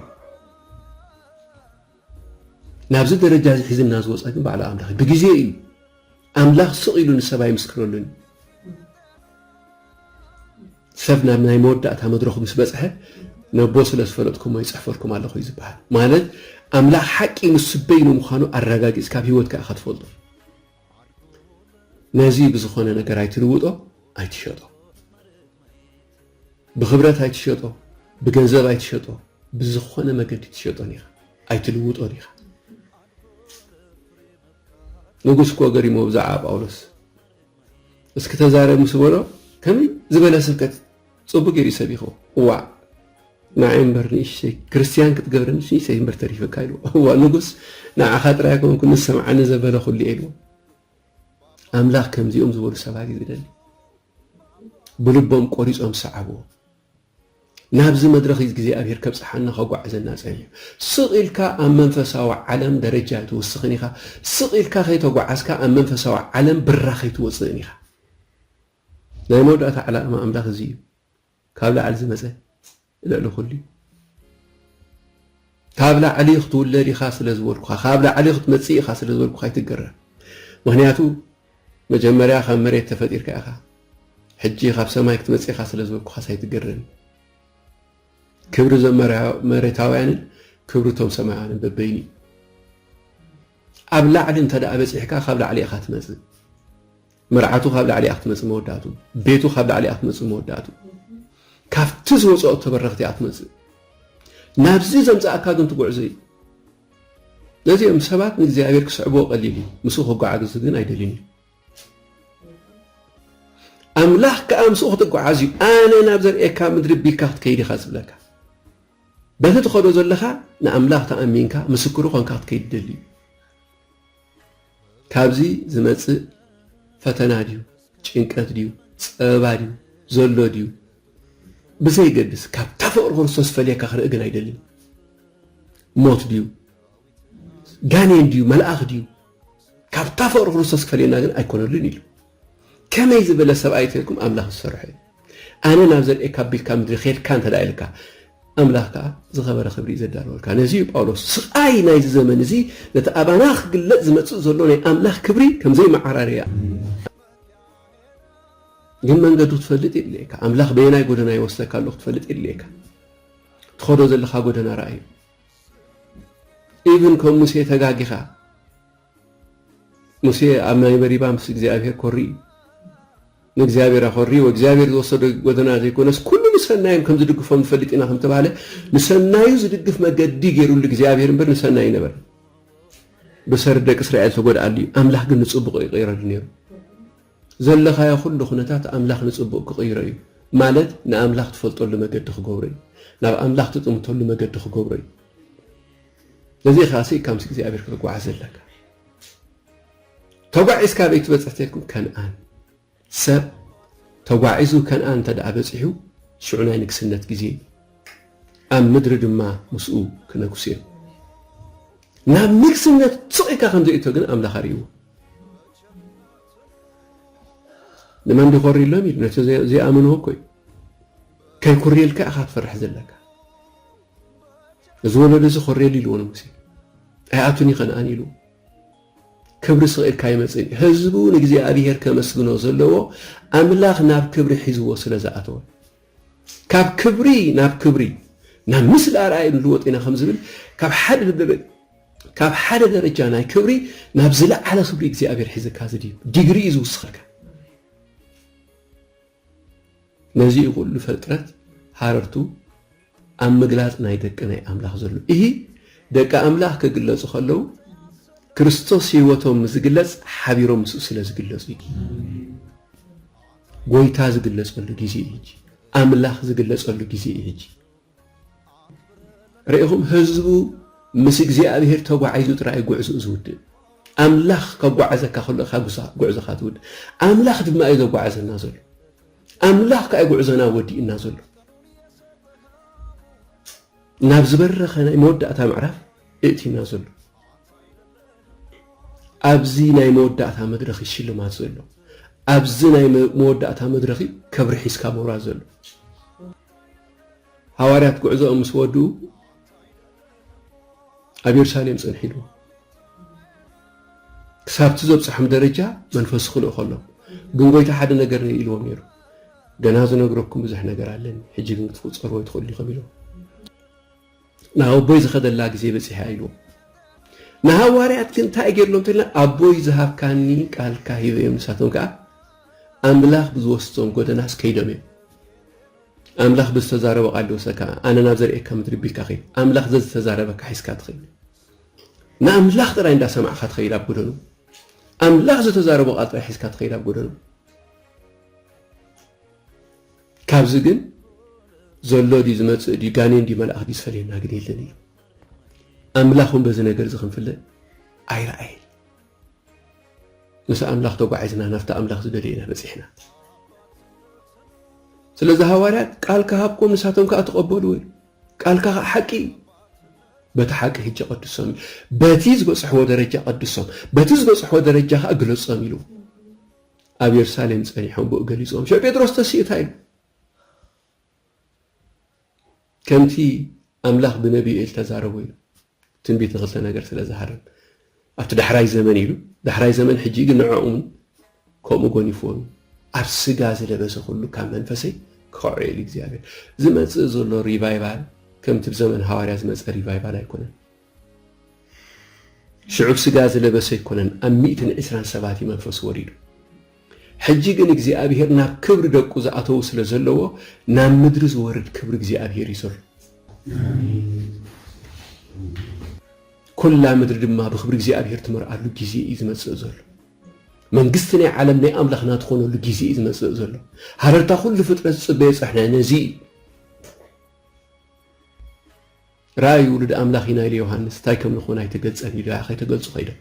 ናብዚ ደረጃ እዚ ሒዝና ዝወፃ ግን ባዕሉ ኣምላኽ ብግዜ እዩ ኣምላኽ ስቕ ኢሉ ንሰብ ኣይምስክረሉን እዩ ሰብ ናብ ናይ መወዳእታ መድረኹ ምስ በጽሐ ነቦ ስለ ዝፈለጥኩሞ ይጽሕፈልኩም ኣለኹ እዩ ዝበሃል። ማለት ኣምላኽ ሓቂ ንሱ በይኑ ምዃኑ ኣረጋጊጽካ ኣብ ህይወትካ ኢኻ ትፈልጦ። ነዚ ብዝኾነ ነገር ኣይትልውጦ ኣይትሸጦ። ብኽብረት ኣይትሸጦ፣ ብገንዘብ ኣይትሸጦ፣ ብዝኾነ መገዲ ትሸጦን ኢኻ ኣይትልውጦን ኢኻ። ንጉስ እኮ ገሪሞ ብዛዕባ ጳውሎስ እስኪ ተዛረብ ምስ በሎ ከመይ ዝበለ ስብከት ጽቡቅ ጌሩ እዩ ሰቢክዎ እዋእ ንዓይ እምበር ንእሽተይ ክርስትያን ክትገብረኒ ንእሽተይ እምበር ተሪፈካ ኢልዎ እዋ ንጉስ ንዓኻ ጥራይ ኣይኮንኩ ንሰምዓኒ ዘበለ ኩሉ እየ ኢልዎ ኣምላኽ ከምዚኦም ዝበሉ ሰባት እዩ ዝደሊ ብልቦም ቆሪጾም ሰዓብዎ ናብዚ መድረኽ እዝግዜኣብሄር ከብጽሓና ከጓዕዘና ጸልዩ። ስቕ ኢልካ ኣብ መንፈሳዊ ዓለም ደረጃ ኣይትውስኽን ኢኻ፣ ስቕ ኢልካ ከይተጓዓዝካ ኣብ መንፈሳዊ ዓለም ብራኽ ኣይትወጽእን ኢኻ። ናይ መወዳእታ ዕላማ ኣምላኽ እዚ እዩ፣ ካብ ላዕሊ ዝመጸ ልዕሊ ኩሉ እዩ። ካብ ላዕሊ ክትውለድ ኢኻ ስለ ዝበልኩኻ ካብ ላዕሊ ክትመጽእ ኢኻ ስለ ዝበልኩኻ ኣይትገረም ምኽንያቱ መጀመርያ ካብ መሬት ተፈጢርካ ኢኻ ሕጂ ካብ ሰማይ ክትመጽእ ኢኻ ስለ ዝበልኩኻስ ኣይትገረም ክብሪ እዞም መሬታውያንን ክብሪ እቶም ሰማያውያንን በበይኑ እዩ ኣብ ላዕሊ እንተ በጺሕካ ካብ ላዕሊ ኢኻ ትመጽእ መርዓቱ ካብ ላዕሊ እያ ክትመፅእ መወዳእትኡ ቤቱ ካብ ላዕሊ እያ ክትመፅእ መወዳእትኡ ካብቲ ዝወፀኦ ተበረኽቲ እያ ትመፅእ ናብዚ ዘምፃእካ ግን ትጉዕዞ እዩ ነዚ እዮም ሰባት ንእግዚኣብሔር ክስዕብዎ ቀሊል እዩ ምስኡ ክጓዓዙ ግን ኣይደልን እዩ ኣምላኽ ከዓ ምስኡ ክትጓዓዝ እዩ ኣነ ናብ ዘርእካ ምድሪ ቢልካ ክትከይድ ኢኻ ዝብለካ በቲ ትኸዶ ዘለኻ ንኣምላኽ ተኣሚንካ ምስክሩ ኮንካ ክትከይድ ደሊ እዩ ካብዚ ዝመጽእ ፈተና ድዩ ጭንቀት ድዩ ጸበባ ድዩ ዘሎ ድዩ ብዘይገድስ ካብታ ፍቕሪ ክርስቶስ ፈልየካ ክርኢ ግን ኣይደልን። ሞት ድዩ ጋኔን ድዩ መልኣኽ ድዩ ካብታ ፍቕሪ ክርስቶስ ክፈልየና ግን ኣይኮነሉን ኢሉ ከመይ ዝበለ ሰብኣይ እንተልኩም ኣምላኽ ዝሰርሖ እዩ ኣነ ናብ ዘርእካ ቢልካ ምድሪ ኬድካ እንተ ኢልካ ኣምላኽ ከዓ ዝኸበረ ክብሪ እዩ ዘዳለወልካ ነዚ እዩ ጳውሎስ ስቃይ ናይዚ ዘመን እዚ ነቲ ኣባና ክግለጽ ዝመጽእ ዘሎ ናይ ኣምላኽ ክብሪ ከም ዘይመዓራርያ ግን መንገዱ ትፈልጥ የድልየካ ኣምላኽ በየናይ ጎደና ይወስደካ ኣሎ ክትፈልጥ የድልየካ ትኸዶ ዘለካ ጎደና ረኣዩ ኢብን ከም ሙሴ ተጋጊኻ ሙሴ ኣብ ማይ መሪባ ምስ እግዚኣብሔር ኮሪ ንእግዚኣብሔር ኣኾሪ ወእግዚኣብሔር ዝወሰዶ ጎደና ዘይኮነስ ኩሉ ንሰናዮም ከም ዝድግፎም ንፈልጥ ኢና ከም ተባህለ ንሰናዩ ዝድግፍ መገዲ ገይሩሉ እግዚኣብሔር እምበር ንሰናይ ነበር ብሰሪ ደቂ እስራኤል ተጎድኣሉ እዩ ኣምላኽ ግን ንፅቡቕ ይቕይረሉ ነይሩ ዘለኻዮ ኩሉ ኩነታት ኣምላኽ ንጽቡቕ ክቕይሮ እዩ ማለት ንኣምላኽ ትፈልጠሉ መገዲ ክገብሮ እዩ ናብ ኣምላኽ ትጥምተሉ መገዲ ክገብሮ እዩ ለዚ ኢኻ ስኢካ ምስ እግዚኣብሔር ክትጓዓዝ ዘለካ ተጓዒዝካ ኣበይ ትበፅሕ ተልኩም ከንኣን ሰብ ተጓዒዙ ከንኣን እንተደኣ በፂሑ ሽዑ ናይ ንግስነት ግዜ እዩ ኣብ ምድሪ ድማ ምስኡ ክነግሱ እዮም ናብ ንግስነት ስቕ ኢልካ ከም ዘይእቶ ግን ኣምላኽ ኣርእይዎ ንመን ድኾሪ ኣሎም ኢሉ ነቲ ዘይኣመንዎ እኮ እዩ ከይኩርየልካ ኢኻ ትፈርሕ ዘለካ እዚ ወለዶ እዚ ኮሬል ኢልዎ ንጉሴ ኣይኣቱን እዩ ከነኣን ኢሉ ክብሪ ስቕ ኢልካ ይመፅን እዩ ህዝቡ ንእግዚኣብሔር ከመስግኖ ዘለዎ ኣምላኽ ናብ ክብሪ ሒዝዎ ስለ ዝኣተወ ካብ ክብሪ ናብ ክብሪ ናብ ምስሊ ኣርኣይ ንልወጥ ኢና ከም ዝብል ካብ ሓደ ካብ ሓደ ደረጃ ናይ ክብሪ ናብ ዝለዓለ ክብሪ እግዚኣብሔር ሒዝካ ዝድዩ ዲግሪ እዩ ዝውስኸልካ ነዚ እዩ ኩሉ ፈጥረት ሃረርቱ ኣብ ምግላጽ ናይ ደቂ ናይ ኣምላኽ ዘሎ እሂ ደቂ ኣምላኽ ክግለጹ ከለዉ ክርስቶስ ህይወቶም ምስ ዝግለጽ ሓቢሮም ምስኡ ስለ ዝግለጹ እዩ ጎይታ ዝግለጸሉ ግዜ እዩ ሕጂ ኣምላኽ ዝግለጸሉ ግዜ እዩ ሕጂ ርኢኹም ህዝቡ ምስ እግዚኣብሄር ተጓዒዙ ጥራይ ጉዕዝኡ ዝውድእ። ኣምላኽ ከጓዕዘካ ከሎ ኢኻ ጉዕዞኻ ትውድእ። ኣምላኽ ድማ እዩ ዘጓዕዘና ዘሎ። ኣምላኽ ከኣ ጉዕዞና ወዲእና ዘሎ። ናብ ዝበረኸ ናይ መወዳእታ ምዕራፍ እእቲና ዘሎ ኣብዚ ናይ መወዳእታ መድረኽ እዩ ሽልማት ዘሎ ኣብዚ ናይ መወዳእታ መድረኽ እዩ ከብሪ ሒዝካ ምውራድ ዘሎ ሃዋርያት ጉዕዞኦም ምስ ወድኡ ኣብ የሩሳሌም ጸንሒሉ ክሳብቲ ዘብጽሖም ደረጃ መንፈሱ ክልእ ከሎ ግን ጎይታ ሓደ ነገር ኢልዎም ነይሩ ገና ዝነግረኩም ብዙሕ ነገር ኣለኒ ሕጂ ግን ክትቁጸርዎ ኣይትኽእሉ ኢኹም ኢልዎም ናብ ኣቦይ ዝኸደላ ግዜ በጺሓ ኢልዎም። ንሃዋርያት ግን እንታይ ገይርሎም እንተልና ኣቦይ ዝሃብካኒ ቃልካ ሂበ እዮም ንሳቶም ከኣ ኣምላኽ ብዝወስዶም ጎደናስ ከይዶም እዮም። ኣምላኽ ብዝተዛረቦ ቃል ዝወሰካ ኣነ ናብ ዘርእካ ምድሪ ቢልካ ከይድ። ኣምላኽ ዘዝተዛረበካ ሒዝካ ትኸይድ። ንኣምላኽ ጥራይ እንዳሰማዕካ ትኸይድ ኣብ ጎደኑ። ኣምላኽ ዝተዛረቦ ቃል ጥራይ ሒዝካ ትኸይድ ኣብ ጎደኑ። ካብዚ ግን ዘሎ ድዩ ዝመጽእ ድዩ ጋኔን ድዩ መልኣኽ ድዩ ዝፈልየና ግን የለን እዩ። ኣምላኽ እውን በዚ ነገር እዚ ክንፍለ ኣይረኣየን። ምስ ኣምላኽ ተጓዒዝና ናብቲ ኣምላኽ ዝደልዮ ኢና በፂሕና። ስለዚ ሃዋርያት ቃል ክሃብኩም ንሳቶም ከዓ ተቐበሉ ወይ ቃልካ ከዓ ሓቂ እዩ በቲ ሓቂ ህጀ ቀድሶም በቲ ዝበፅሕዎ ደረጃ ቀድሶም በቲ ዝበፅሕዎ ደረጃ ከዓ ግለፆም ኢሉ ኣብ የርሳሌም ጸኒሖም ብኡ ገሊጾም ሽዑ ጴጥሮስ ተሲእታ ኢሉ ከምቲ ኣምላኽ ብነቢዩ ኤል ተዛረቦ ኢሉ ትንቢት ንክልተ ነገር ስለ ዝሃረም ኣብቲ ዳሕራይ ዘመን ኢሉ ዳሕራይ ዘመን ሕጂ ግን ንዕኡም ከምኡ ጎኒፍዎም ኣብ ስጋ ዝለበሰ ኩሉ ካብ መንፈሰይ ክኸዖ ኢሉ እግዚኣብሔር ዝመጽእ ዘሎ ሪቫይቫል ከምቲ ብዘመን ሃዋርያ ዝመጸ ሪቫይቫል ኣይኮነን ሽዑ ሥጋ ዝለበሰ ኣይኮነን፣ ኣብ ሚእትን ዕስራን ሰባት እዩ መንፈሱ ወሪዱ። ሕጂ ግን እግዚኣብሔር ናብ ክብሪ ደቁ ዝኣተዉ ስለ ዘለዎ ናብ ምድሪ ዝወርድ ክብሪ እግዚኣብሔር እዩ ዘሎ። ኩላ ምድሪ ድማ ብክብሪ እግዚኣብሔር ትመርኣሉ ጊዜ እዩ ዝመጽእ ዘሎ። መንግስቲ ናይ ዓለም ናይ ኣምላኽና ትኾነሉ ጊዜ እዩ ዝመጽእ ዘሎ። ሃረርታ ኩሉ ፍጥረት ዝጽበዮ ጸሕናይ ነዚ እዩ። ራእይ ውሉድ ኣምላኽ ኢና ኢሉ ዮሃንስ እንታይ ከም ንኾን ኣይተገልጸን እዩ ድራያ ከይተገልጹ ከይዶም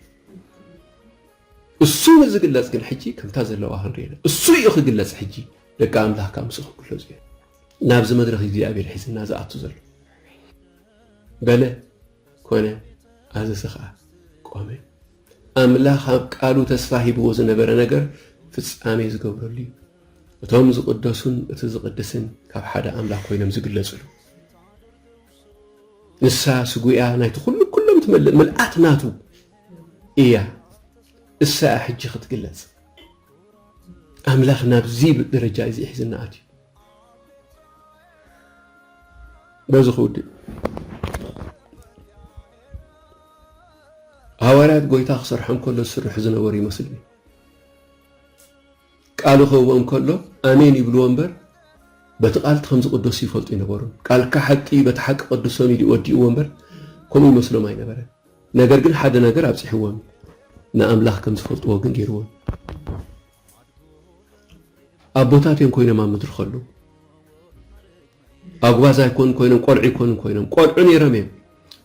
እሱ ንዝግለጽ ግን ሕጂ ከምታ ዘለዋ ክንሪኤና እሱ እዩ ክግለጽ ሕጂ ደቂ ኣምላኽ ካብ ምስ ክግለጹ እዮም ናብዚ መድረኽ እግዚኣብሔር ሒዝና ዝኣቱ ዘሎ በለ ኮነ ኣዘዘ ከዓ ቆመ ኣምላኽ ኣብ ቃሉ ተስፋ ሂብዎ ዝነበረ ነገር ፍጻሜ ዝገብረሉ እዩ እቶም ዝቕደሱን እቲ ዝቕድስን ካብ ሓደ ኣምላኽ ኮይኖም ዝግለጽሉ ንሳ ስጉያ ናይቲ ኩሉ ኩሎም ትመልእ ምልኣት ናቱ እያ እሳ እያ ሕጂ ክትግለጽ ኣምላኽ ናብዚ ደረጃ እዚ ሒዝና ኣትዩ በዚ ክውድእ ሃዋርያት ጎይታ ክሰርሖም ከሎ ዝስርሑ ዝነበሩ ይመስልኒ ቃሉ ክህቦ እንከሎ ኣሜን ይብልዎ እምበር በቲ ቃል እቲ ከምዚ ቅዶስ ይፈልጡ ኣይነበሩን። ቃልካ ሓቂ እዩ በቲ ሓቂ ቀድሶም ኢሉ እዩ ወዲእዎ እምበር ከምኡ ይመስሎም ኣይነበረን። ነገር ግን ሓደ ነገር ኣብጺሕዎም እዩ። ንኣምላኽ ከም ዝፈልጥዎ ግን ገይርዎም ኣቦታት እዮም ኮይኖም ኣብ ምድሪ ከለዉ ኣጉባዝ ኣይኮኑን ኮይኖም ቆልዑ ኣይኮኑን ኮይኖም ቆልዑ ነይሮም እዮም።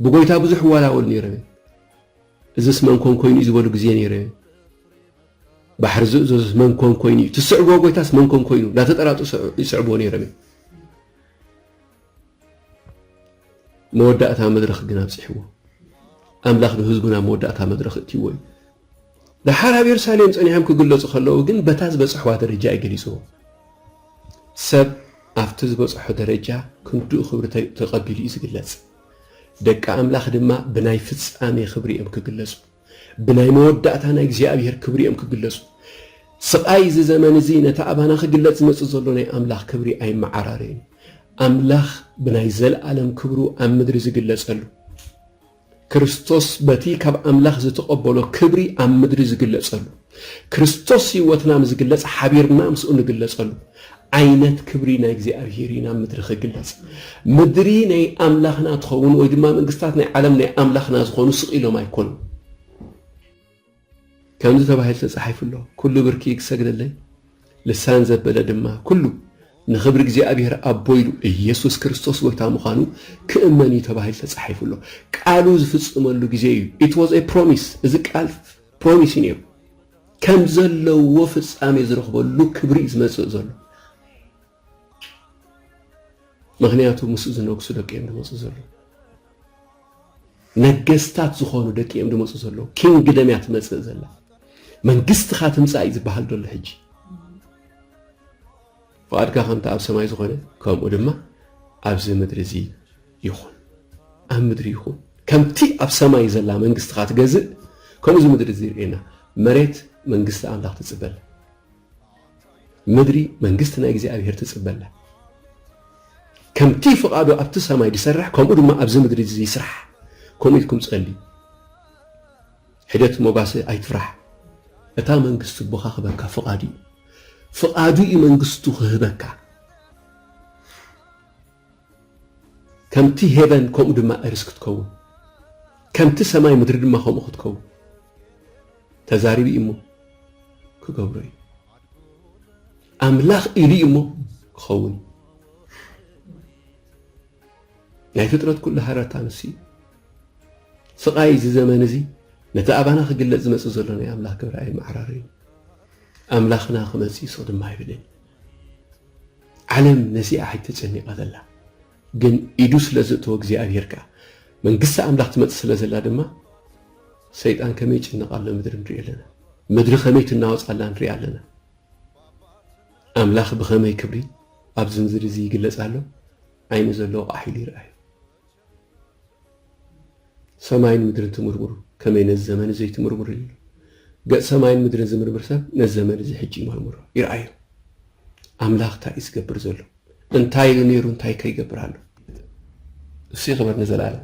ብጎይታ ብዙሕ ይዋላወሉ ነይሮም እዮም። እዝስ መን ኮን ኮይኑ'ዩ ዝበሉ ግዜ ነይረ። ባሕሪ ዝእዘዙስ መን ኮን ኮይኑ'ዩ፣ ትስዕብዎ ጎይታስ መን ኮን ኮይኑ እንዳተጠራጠሱ ይስዕብዎ ነይሮም እዮም። መወዳእታ መድረኽ ግን ኣብጺሕዎ። ኣምላኽ ንህዝቡ ናብ መወዳእታ መድረኽ እእትይዎ እዩ። ደሓር ኣብ የሩሳሌም ጸኒሖም ክግለጹ ከለዉ ግን በታ ዝበጽሕዋ ደረጃ እዩ ገሊጽዎ። ሰብ ኣብቲ ዝበጽሖ ደረጃ ክንድኡ ክብሪ ተቐቢሉ እዩ ዝግለጽ። ደቂ ኣምላኽ ድማ ብናይ ፍጻሜ ክብሪ እዮም ክግለጹ፣ ብናይ መወዳእታ ናይ እግዚኣብሔር ክብሪ እዮም ክግለጹ። ስቓይ እዚ ዘመን እዚ ነቲ ኣባና ክግለጽ ዝመጽእ ዘሎ ናይ ኣምላኽ ክብሪ ኣይመዓራረዩን። ኣምላኽ ብናይ ዘለኣለም ክብሩ ኣብ ምድሪ ዝግለጸሉ፣ ክርስቶስ በቲ ካብ ኣምላኽ ዝተቐበሎ ክብሪ ኣብ ምድሪ ዝግለጸሉ፣ ክርስቶስ ሕይወትና ንዝግለጽ ሓቢርና ምስኡ ንግለጸሉ ዓይነት ክብሪ ናይ እግዚኣብሔር ኢና ምድሪ ክግለጽ ምድሪ ናይ ኣምላኽና ትኸውን ወይ ድማ መንግስታት ናይ ዓለም ናይ ኣምላኽና ዝኾኑ ስቕ ኢሎም ኣይኮኑ ከምዚ ተባሂሉ ተጻሒፉ ኣሎ ኩሉ ብርኪ ይግሰግደለይ ልሳን ዘበለ ድማ ኩሉ ንኽብሪ እግዚኣብሔር ኣቦ ኢሉ ኢየሱስ ክርስቶስ ጎይታ ምዃኑ ክእመን እዩ ተባሂሉ ተጻሒፉ ኣሎ። ቃሉ ዝፍጽመሉ ግዜ እዩ። ኢት ዋዝ ኤ ፕሮሚስ እዚ ቃል ፖሊሲ ነይሩ ከም ዘለዎ ፍጻሜ ዝረኽበሉ ክብሪ እዩ ዝመጽእ ዘሎ ምክንያቱ ምስ ዝነግሱ ደቂ እዮም ዝመፁ ዘሎ ነገስታት ዝኾኑ ደቂ እዮም ዝመፁ ዘለዉ ኪንግደም እያ ትመፅእ ዘላ መንግስትኻ ትምፃእ እዩ ዝበሃል ዘሎ ሕጂ ፍቓድካ ከምቲ ኣብ ሰማይ ዝኾነ ከምኡ ድማ ኣብዚ ምድሪ እዚ ይኹን ኣብ ምድሪ ይኹን ከምቲ ኣብ ሰማይ ዘላ መንግስትኻ ትገዝእ ከምኡ እዚ ምድሪ እዚ ርእየና መሬት መንግስቲ ኣምላኽ ትጽበላ ምድሪ መንግስቲ ናይ እግዚኣብሔር ትጽበላ ከምቲ ፍቓዱ ኣብቲ ሰማይ ዝሰርሕ ከምኡ ድማ ኣብዚ ምድሪ እዚ ይስራሕ ከምኡ ኢልኩም ጸልዩ ሕደት ሞጋሰ ኣይትፍራሕ እታ መንግስቲ ቦኻ ክበካ ፍቓዱ እዩ ፍቓዱ እዩ መንግስቱ ክህበካ ከምቲ ሄቨን ከምኡ ድማ እርዝ ክትከውን ከምቲ ሰማይ ምድሪ ድማ ከምኡ ክትከውን ተዛሪቡ እዩ እሞ ክገብሮ እዩ ኣምላኽ ኢሉ እዩ እሞ ክኸውን እዩ ናይ ፍጥረት ኩሉ ሃረርታ ንሱ እዩ ስቓይ እዚ ዘመን እዚ ነቲ ኣባና ክግለጽ ዝመጽእ ዘሎ ናይ ኣምላኽ ግብረ ኣይመዓራረዩ ኣምላኽና ክመጽእ ይሶ ድማ ኣይብልን ዓለም ነዚኣ ሕጂ ተጨኒቃ ዘላ ግን ኢዱ ስለ ዘእተወ እግዚኣብሄር ከኣ መንግስቲ ኣምላኽ ትመጽእ ስለ ዘላ ድማ ሰይጣን ከመይ ይጭነቕ ኣሎ ምድሪ ንሪኦ ኣለና ምድሪ ከመይ ትናወጽ ኣላ ንሪኣ ኣለና ኣምላኽ ብኸመይ ክብሪ ኣብዚ ምድሪ እዚ ይግለጽ ኣሎ ዓይኑ ዘለዎ ቃሕ ኢሉ ይርኣዩ ሰማይን ምድርን ትምርምሩ ከመይ ነዚ ዘመን እዚ ዘይትምርምሩ ኢሉ ኣሎ። ገጽ ሰማይን ምድርን ዝምርምር ሰብ ነዚ ዘመን እዚ ሕጂ ይመርምሮ ይርኣዮ ኣምላኽ እንታይ እዩ ዝገብር ዘሎ እንታይ ኢሉ ነይሩ እንታይ ከ ይገብር ኣሎ ንሱ ይኽበር ንዘለኣለም።